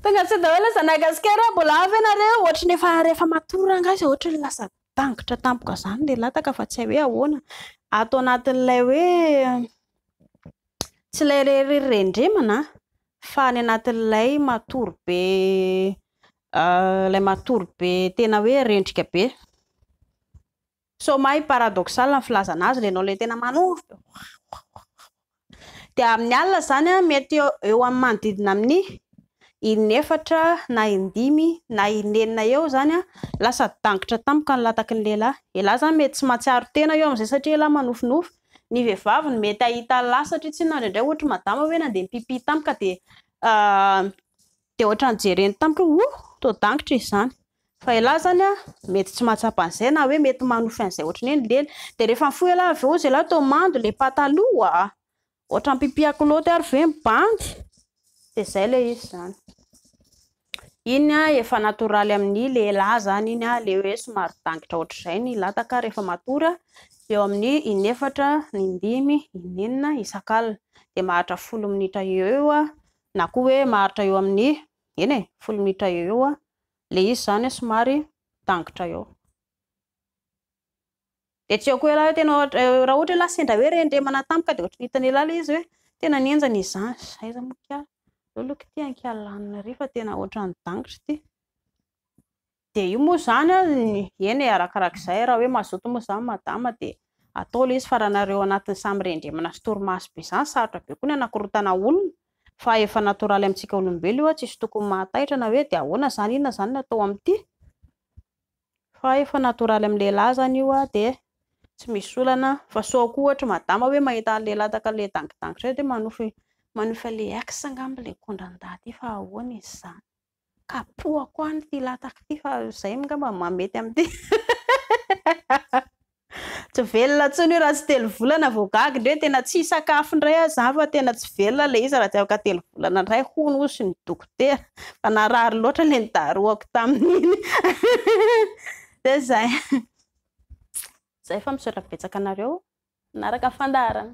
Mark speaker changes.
Speaker 1: Tonga tsy daholo aza nagasikara mbola avy ianareo ohatry ny efa rehefa matory rangahy izao ohatry ny lasa dangitra tampoka izany ilay lataka fa tsy hay hoe ahoana ato anatin'ilay hoe tsy ilay rery rendremana fa ny anatin'ilay matory be ilay matory be tena hoe rendrika be Sao mahay paradoxal ny filazana azy lenao le tena manondro be oaoaoaoa dia amin'ny alina izany mety eo amin'ny manodidina amin'ny in'efatra na indimy na in'enina eo izany lasa dangitra tampoka ny lataky ny lehilahy, ialahy izany mety tsy mahatsiaro tena eo amin'izay satria ialahy manofinofy, ny vehivavy no mety hahita an'la satria tsinona indraindray ohatry madama hoe nandeha mipipy tampoka dia dia ohatran'ny jereny tampoka hoe oh toa dangitra izy izany. Fa elah zany a mety tsy mahatsapa an'izay na hoe mety manofy an'izay ohatry ny hoe nilely dia rehefa mifoha elah avy eo zailahy toa mando ilay pataloha a! ohatran'ny mpipia kilaoty ary ve mibandy? dia zay ilay izy zany. Iny a efa natoraly amin'ny lehilahy zany iny a ilay hoe somary dangitra ohatr'izay ny lataka rehefa matory a eo amin'ny in'efatra, indimy, in'enina isak'alina dia maharitra folo minitra eo eo a na koa hoe maharitra eo amin'ny eny e folo minitra eo eo a. ilay izy izany somary mitangitra eo. Dia tsy haiko hoe ialahy tena ohatra, raha ohatra ialahy sendra hoe rendremana tampoka dia ohatran'ny hitan'i ialahy ilay izy hoe tena nenjana izany. Izay izy moa kay, aleo aloha kitihina ny kialanina ery fa tena ohatran'ny dangitra ity. Dia io moa izany, eny e, arakaraka izay, raha hoe mazoto moa izany madama dia atao ilay izy fa raha nareo anatin'ny samy rendremana sy torimaso be izany, sarotra be koa ny hanakorontana olona, Fa efa natoraly amintsika olombelo io a, tsisy tokony mahataitra na hoe dia ahoana izany, inona izany no atao amin'ity? Fa efa natoraly amin'ny lehilahy izany io a, dia tsy misy olana, fa sao koa ohatra madama hoe mahita an'ilay lataka ilay dangidangitra hoe manofy, manofy an'ilay ex angamba ilay kondra ndaty io fa ahoana izy izany? Kapohako any ity lataka ity fa izay angamba no mahamety amin'ity. Tsy velona intsony io raha tsy telo volana vao gaga indray, tena tsy hisakafo indray aza aho fa tena tsy velona ilay izy raha tsy afaka telo volana indray hono hozy ny dokotera fa narary loatra ilay nidarohako tamin'iny. Dia izay. Izay fa misaotra betsaka anareo nanaraka ny fandaharana.